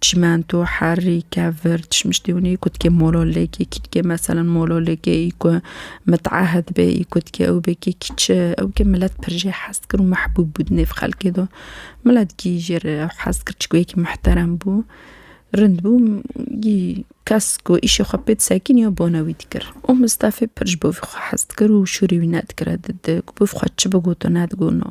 Çimento, herrî, kevir, çişmiştî hûn î ku dikê mololêkê kî dikê meselan mololêkê î ku miteahid bê î ku dikê ew bê kê kî çi ew kê milet pir jê hez kir û mehbûb bû di nêv xelkê de. Milet kî jê re ew hez kir çi ku yekî mihterem bû, rind bû kî kes ku îşê xwe pê disekîniye bone wî dikir. Û Mistefê pir ji bo vî xwe hez dikir û şûrê wî nedikire di di ku bi vî xwe çi bigoto nedigotno.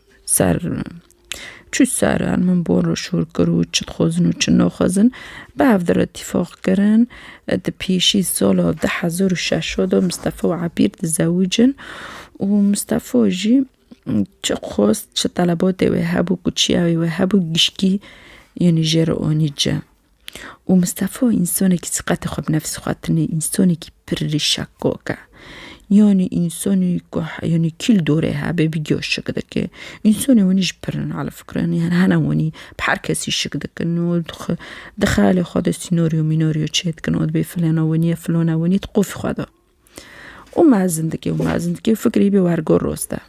Ser çi ser an min bor û şûr kir û çi dixwazin û çi naxwazin, bi hev dir îtîfaq kirin. Di pêşî sala du hezar û şeş de Mistefa û Ebîr dizewicin û Mistefa jî çi xwest, çi telebatê wê hebû, ku çiya wê hebû gişkî yanî jê re anî cem. Û Mistefa însanekî siqetê xwe bi nefsê xwe tine, însanekî pir rîşekok e. Yanî însanî ku yanî kîl dorê hebe bi giya şik dike. Însanê winî ji pir hene ala fikra yanî hene winî bi her kesî şik dikin û dixwe di xeyalê xwe de sînoryo mînoryo çêdikin û dibê filana winî ye filana winî di qofî xwe de. û mezin dike û mezin dike û fikrî bê wergo roste.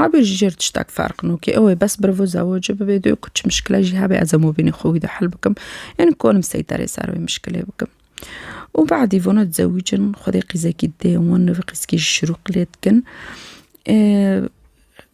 Abê ji jêr tiştek ferq nokê ew ê bes birivo zewocê bibê dê ku çi mişkile jî hebe ez hemû vînê xwe wî de hel bikim yanî konim seyterê ser wê mişkilê bikim. Û badî vana dizewicin xwedê qîzekî didê wan nivî qîzkî jî şirû qilê dikin.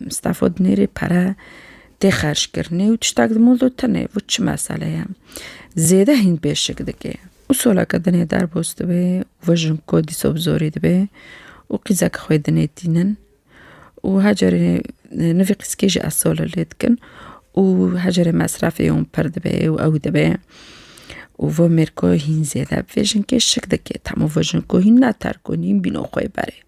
Mistafa dinêrê pere tê xerckirinê û tiştek di mûl de tune vû çi mesele ye. Zêde hîn pêşik dike û soleke dinê derbos dibe û vejin ku dîsa bi zorî dibe û qîzeke xwe dinê tînin û her carê nivî qîzkê jî ez sole lê dikin û her carê mesrefê wan pir dibe û ew dibe û vê mêrka hîn zêde bi vê jinkê şik dike. Hemû vê jinko hîn ne terk in hîn bîno xwe berê.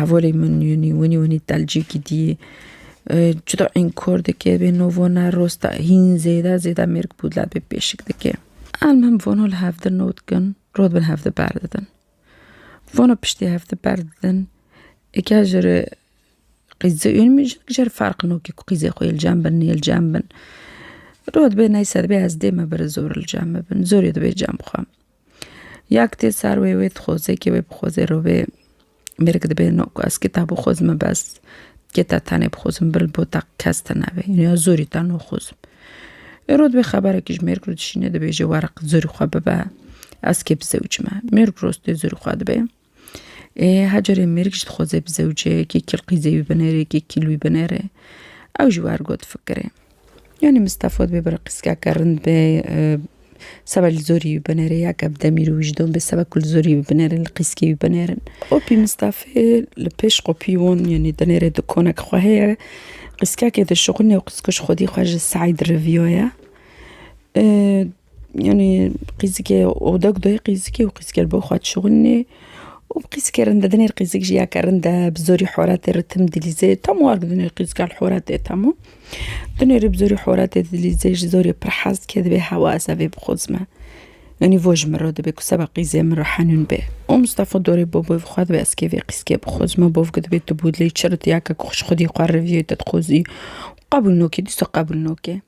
Hevalê min yûnî winî winî telcî gidî cuda ên kor dike bê no vona rosta hîn zêde zêde mêrg bûdla bê pêşik dike em him vono li hevdin no dikin rot bin hevdi ber didin vono piştî hevdi ber didin eke ji re qîze ûn min ji jer ferq no kî ku qîzê xwe li cem bin nê li cem bin rot bê neyse dibê ez dê me biri zor li cem bibin zorê dibê cem bixwem. Yak tê ser wê wê dixweze kê wê bixweze rovê mêrg dibê no ku ez kitabo dixwezime bes dikêta tenê bixwezim bil bo te kes te nebe yînî ya zorî te naxwezim. Êro dibê xeberekî ji mêrg re dişîne dibêje were zorî xwe bibe ez kê bi zewc me mêrg rostê zorî xwe dibê. Ê hecerê mêrik jî dixwaze bi zewceyekî kilqîzê wî binêrê kî kîl wî binêrê. Ew jî wer got fikirê. Yanî Mistefa dibê bira qîzkeke rind bê seba li zorî wî binêrê ya ke bi demîr û wîjdon bê seba ku li zorî wî binêrin li qîzkê wî binêrin. Qopî Mistefê li pêş qopî wan yanî dinêrê dikonek xwe heye qîzkekê dişuxulin û qîzkuj xwedî xwe ji seyî diriviyaye. Yanî qîzikê oda ku dayê qîzikê û qîzikê li bo xwe dişuxulînê û bi qîzikê rind e. Dinê qîzik jiyeke rind e, bi zorî horetê ritim dilîzê. Tam war bi dinê qîzika li horetê temû. Dinê rê bi zorî horetê dilîzê ji zorê pir hez dike divê hewa ez evê bixwazime. Yanî vo ji min re dibe ku seba qîzê min re henûn be. Û Mistefa dorê bo bavê xwe dibe ez kê vê qîzikê bixwazime. Bav ku dibê tu bû dilê çi ritiya ke ku xwedî xwe rivîyoyê te dixwazî. Qebûl nake dîsa qebûl nake.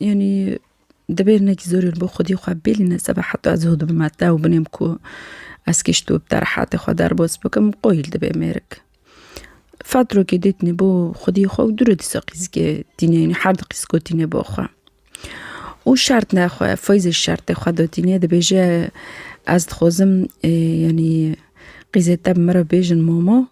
Yanî divê hinekî zor li bo xwedî xwe bêlîne seba heta ez hû dibim heta ew binêm ku ez kişto bi te rehatê xwe derbas bikim qoyî li divê mêrik. Fatrokê dê tîne bo xwedî xwe û dûre dîsa qîzikê tîne yanî her di qîziko tîne bo xwe. Û şert ne xwe feyzê şertê xwe do tîne dibêje ez dixwazim yanî qîzê te bi min re bêjin momo.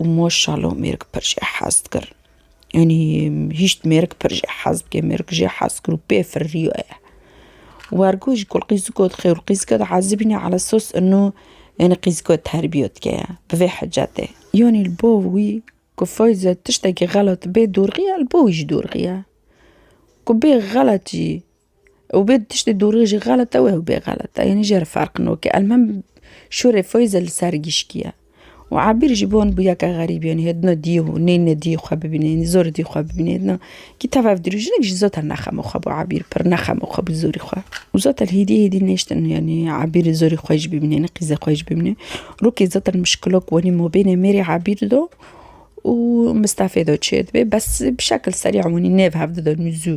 û maşalo mêrg pir jê hez dikir. Yanî hîşt mêrg pir jê hez dike, mêrg jê hez kir û pê firiyaye. Wergo ji ku qîziko dixê û qîzika diezibîne ala sos ino yanî qîziko terbiye dike ya bi vê hicetê. Yanî li bo wî ku Feyza tiştekî xelat bê dorxiya li bo wî jî dorxiya. Ku bê xeletî Ew bê tiştê dorê jî xelet e û ew bê xelet e yanî jê re ferq nake. Elmam şûrê Feyza li ser giştiye û Ebir jî wan bûye ke xerîb e yanî dina diyê û neyne diyê xwe bibîne yanî zor e diyê xwe bibîne dina kî tev ev dirû jinik jî zota nexema xwe bû Ebir pir nexema xwe bû zorî xwe û zota li hêdî hêdî nêştin yanî Ebir zorî xwe jî bibîne yanî qîzê xwe jî bibîne. Rokê zota muşkilok wanî mabênê mêrê Ebir do û Mistefê do çê dibe bes bi şekil serî wanî nêv hev dida nû zû.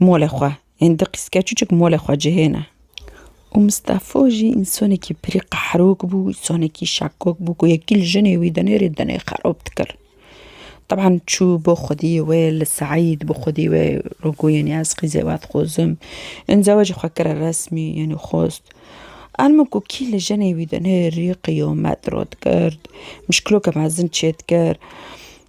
Molê xwe yên di qîzke çuçik molê xwe cihêne. Û Mistefo jî însanekî pirî qehrok bû, însanekî şakok bû ku yekî li jinê wî dinê rê dinê xerab dikir. Teban çû bo xwediyê wê li Seîd bo xwediyê wê ro goyê nê ez qîzê we dixwazim. Yên zewecê xwe kire resmî yanî xwest. An min ku kî li jinê wî dinê rê qiyamet ro dikir, muşkiloke mezin çêdikir.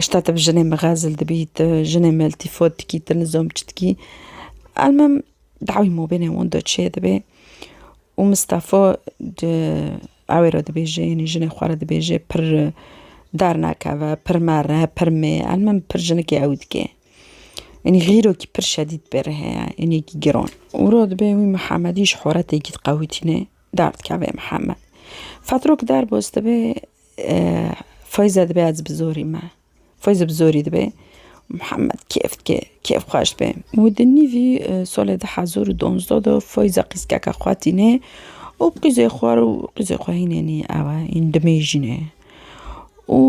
Şta te bi jinê mixezil dibî, tu jinê meltîfot dikî, tu nizomçi dikî. Elmem dawî mobênê wan do çê dibê û Mistefo di ewê re dibêje yanî jinê xwe re dibêje pir dernakeve, pir mere, pir mê elmem pir jinikê ew dike. Yanî xîrokî pir şedîd bê re heye yanî ki giron. Û re dibê wî Mihemedî ji xoretekî diqewitîne derdikeve Mihemed. Fetrok derbos dibê. Feyza dibe ez bi zorî me. Feyza bi zorî dibe. Muhammed kêf dike, kêf xweş dibe. Û di nîvî salê du hezar û donzdeh de Feyza qîzkeke xwe tîne û bi qîzê xwe re û qîzê xwe hîn hînî ew e, hîn dimêjîn e. Û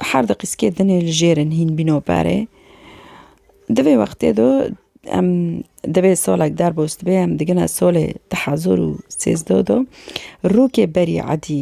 her di qîzkê din ê li jêr in hîn bîno berê. Di vê wextê de em divê salek derbas dibe em digine salê du hezar û sêzdeh de rokê berî edî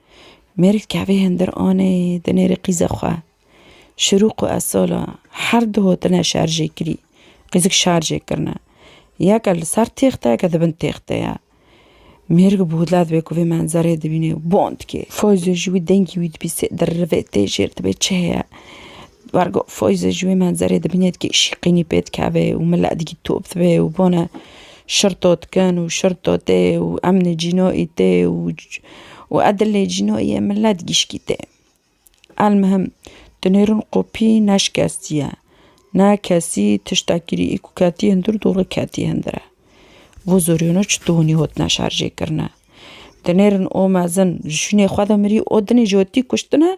Mêrik kevê hindir anê di nêrê qîzê xwe. Şirûq û Esola her du hotine şerjê kirî. Qîzik şerjê kirine. Yeke li ser têxte yeke di bin têxte ye. Mêrik bi hûdla dibe ku vê menzerê dibîne û bond dike. Foyzo ji wî dengê wî dibîse di rivê tê jêr dibe çi heye. Bar got, Foyze ji wê menzerê dibîne dikê îşî qînî pê dikeve û mile dikî top dibe û bone şirto dikin û şirto tê û em nê cînoî tê û e dilê cînoî ye milet gîşkî tê. Elmihim di nêrûn qopî neşikestiye. Ne kesî tişta kirî ku ketiye hundir dûrê ketiye hundir e. Bo zorî wina çi tonî hotine şerjê kirine. Di nêrûn o mezin ji şûnê xwe de mirî o dinê jotî kuştine.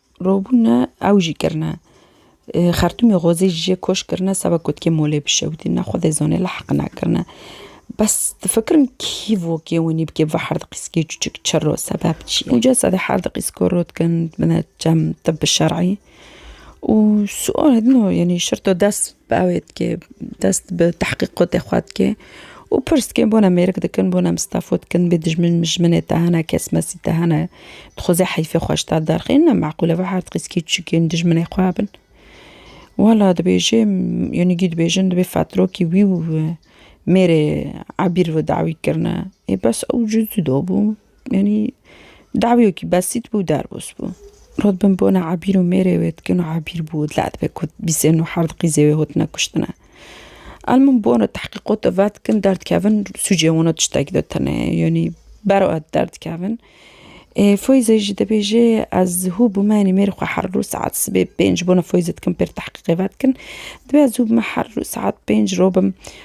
Robûne ew jî kirine. Xertûmê xwezê ji jê koç kirine seba ku dikê molê bişewitîne xwedê zanê li heq nakirine. Bes difikirim kî vokê winî bikê bibe her diqîskê çûçik çir o sebeb çi ye. Uca sedî her diqîsko rû dikin bine cem tibbi şer'î û sual din o yanî şirto dest Bavê dike, dest bi tehqîqotê xwe dike û pirs dike bona mêrik dikin, bona mistafo dikin, bê dijmin mijminê te hene, kesmesî te hene, dixwaze heyfê xwe ji te derxe. Nîne meqûl ev her qîskî çikên dijminê xwe hebin. Wela dibêje yanî dibêjin divê fetrokî wî û mêrê ebîr ve dawî kirine. Ê bes ew cû zû dabû. Yanî dawiyekî besît bû derbûs bû. Rod bin bona Ebîr û mêrê wê dikin û Ebîr bû dila dibe ku bîsên û herd qîzê wê hotine kuştine. El min bona tehqîqota ve dikin derdikevin sûcê wana tiştekî de tenê yanî bero et derdikevin. Ê Foyze jî dibêje ez hû bûme yanî mêrê xwe her roj saet sibê pênc bona Foyze dikim pêr tehqîqê ve dikin. Divê ez hû bime her roj saet pênc robim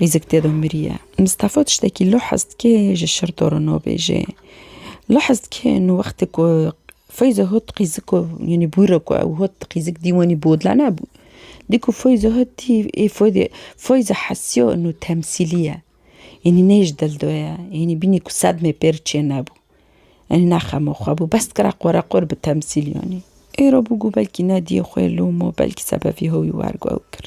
Rîzik tê de miriye. Mistafa tiştekî li hez dike ji şir dorino bêje. Li hez dike nu wextê ku Feyzo hot qîzik û yanî bûyre ku ew hot qîzik dî wanî bodla nebû. Dî ku Feyzo hot dî ê Feyzê Feyzo hesiyo nu temsîlî ye. Yanî ne ji dil de ye. Yanî bînî ku sedmê pêr çê nebû. Yanî ne xema xwe bû. Bes dikira qoreqor bi temsîl yanî. Êro bû ku belkî nediyê xwe lom û belkî sebevî hewî wergo ew kir.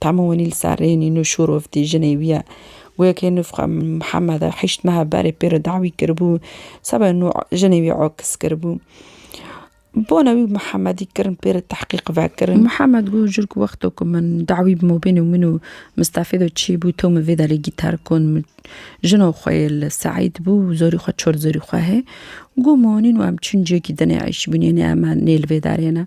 Tama wenî li ser rê nîn û şûrovtî jinê wî ye. Goyekê nûfxa Mihemed e, heşt meha berê pê re dawî kiribû, seba nû jinê wî okiz kiribû. Bona wî Mihemedî kirin pê re tehqîq vekirin. Mihemed got, Jur ku wexto ku min dawî bi mobên û min û Mistefê de çî bû, to min vê delê gîtar kon. Min jina xwe yê li Seîd bû, zorî xwe çol zorî xwe hê. Got, Min wenîn û em çûn ciyekî din ê eîşbûnê nê, em nê li vê derê ne.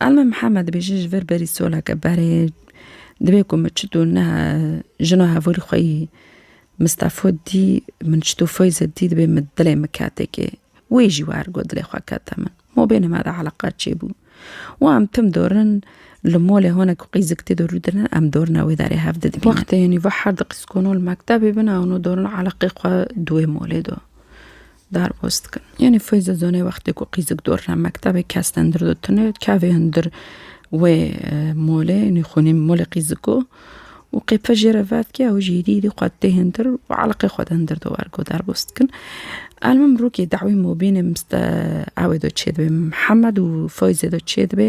Elma Mihemed dibêje ji vir berî soleke berê divê ku min çitû niha jina hevorî xwe yî Mistefo dî min çitû Feyze dî dibê min dilê min ketekê. Wê jî wer got dilê xwe kete min. Ma bêne me de eleqa çêbû. Û em tim dorin li molê hone ku qîzik tê de rû dine em dorine wê derê hev didibînin. Wextê yanî va her diqîskono li mektebê bina hûno dorin eleqê xwe di wê molê de. Derbas dikin. Yanî Feyza zanê wextê ku qîzik dor re mektebê kesten dir do tune kevê hundir wê molê yanî xûnî molê qîziko û qêpe jê re vevkê ew jî êdî êdî xwe tê hundir û eleqê xwe hundir do wergo derbas dikin. Elmim rûkê dawî mobînê miste ewê do çêdibê Mihemed û Feyzê do çêdibê.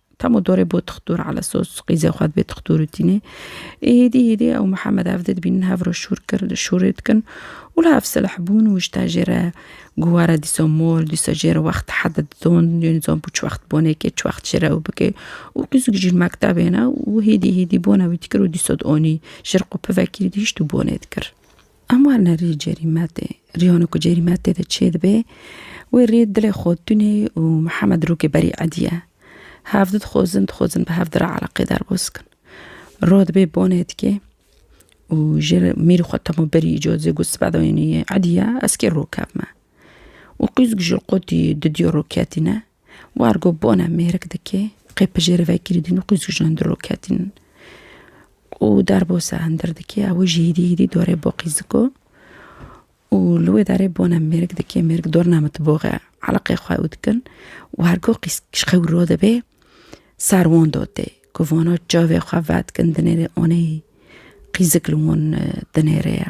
Tam û dorê bo tixtur elesos qîzê xwe dibê tixtur û tînê. Ê hêdî hêdî ew Mihemed ev dê dibînin hev re şûr kir şûrê dikin û li hev silih bûn û jita jê re ku were dîsa mol dîsa jê re wext hede didon yên zan bû çi wext bonê kê çi wext jê re ew bikê û qîzik jî li mektebê ne û hêdî hêdî bona wî dikir û dîsa di anî jir qû pivekî dihîşt û bonê dikir. Em warine rî Cêrîmetê. Rîyano ku Cêrîmet tê de çê dibe, wê rî dilê xwe tunê û Mihemed rûkê berî ediye. Hev di dixwazin dixwazin bi hev di re eleqê derbas bikin. Rû dibê bonê dikê û ji mîrî xwe temo berî îco dizê ku sibe dayînî ediye ez kê rû kevme. Û qîz ji qotî di diyo rû ketîne. War ku bona mêrik dike, qey pijêr vekirî din û qey zûjan di roketîn in. Û derbose hindir dike, ew ê ji hêdî hêdî dorê bo qîziko û li wê derê bona mêrik dike, mêrik dorna min ti boxe eleqê xwe ew dikin. War ku qîz ji qey wiro dibe, ser wan dotê ku vana çavê xwe vedikin dinêrê, aneyî qîzik li wan dinêre ye.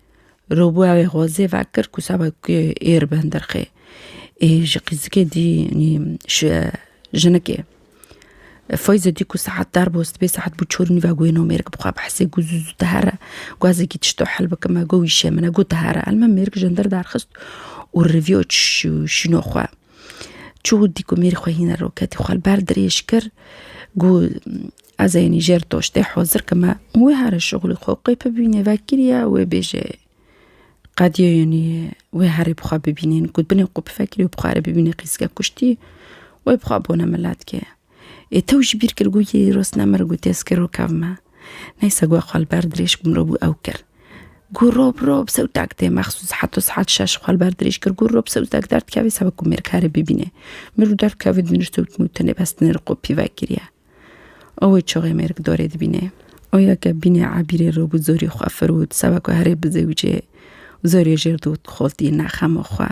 Rûbawê xwe zê vekir ku seba ku êr bi hindirxê. Ê ji qîzikê dî nî ji jinikê. Feyze dî ku saet dar bû sibê saet bû çor nîve got no mêrik bi xwe bi hesê got zû zû dihere. Gazekî tişto hil bike me got wî şê min e got dihere. Elma mêrik ji hindir derxist û rivîyo şîno xwe. Çû dîkumîr xwe hîna roketî xwe li ber dirêj kir gu ez ê nî jêr doştê hozir kime û wê here şixulê xwe qê bibînê vekiriye wê bêje qediye yenî wê herê bi xwe bibînê got binê qû bifekirî û bi xwe re bibînê qîzge kuştî wê bi xwe bone miletkê. Ê tew ji bîr kir got yê îro sinem ir gotê ez kiro kev me. Neyse got xwe li ber dirêj ku mirov bû ew kir. Got rob rob sewtek tê mexsûs heto saet şeş xwe li ber dirêj kir got rob sewtek derdikevê seba ku mêr kare bibîne. Mêr û derv kevin dûnir sewtin û tenê bestinê li qo pîvek kiriye. Ewê çaxê mêr ki dorê dibîne. Oya ke bîne ebîrê rob û zorî xwe firot seba ku herê bi zewicê zorê jêr dot xoltî nexema xwe.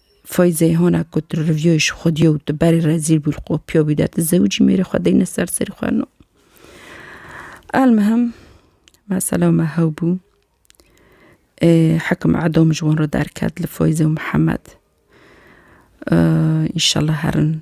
Feyzê hona ku tu rivyoyê ji xwe diyo û tu berê rezîl bû li qopiyo bî de tu zewicî mêrê xwe deyne ser serî xwe no. Elmihim mesela me hew bû. Hekim edom ji wan re derket li Feyzê û Mihemed. Înşallah herin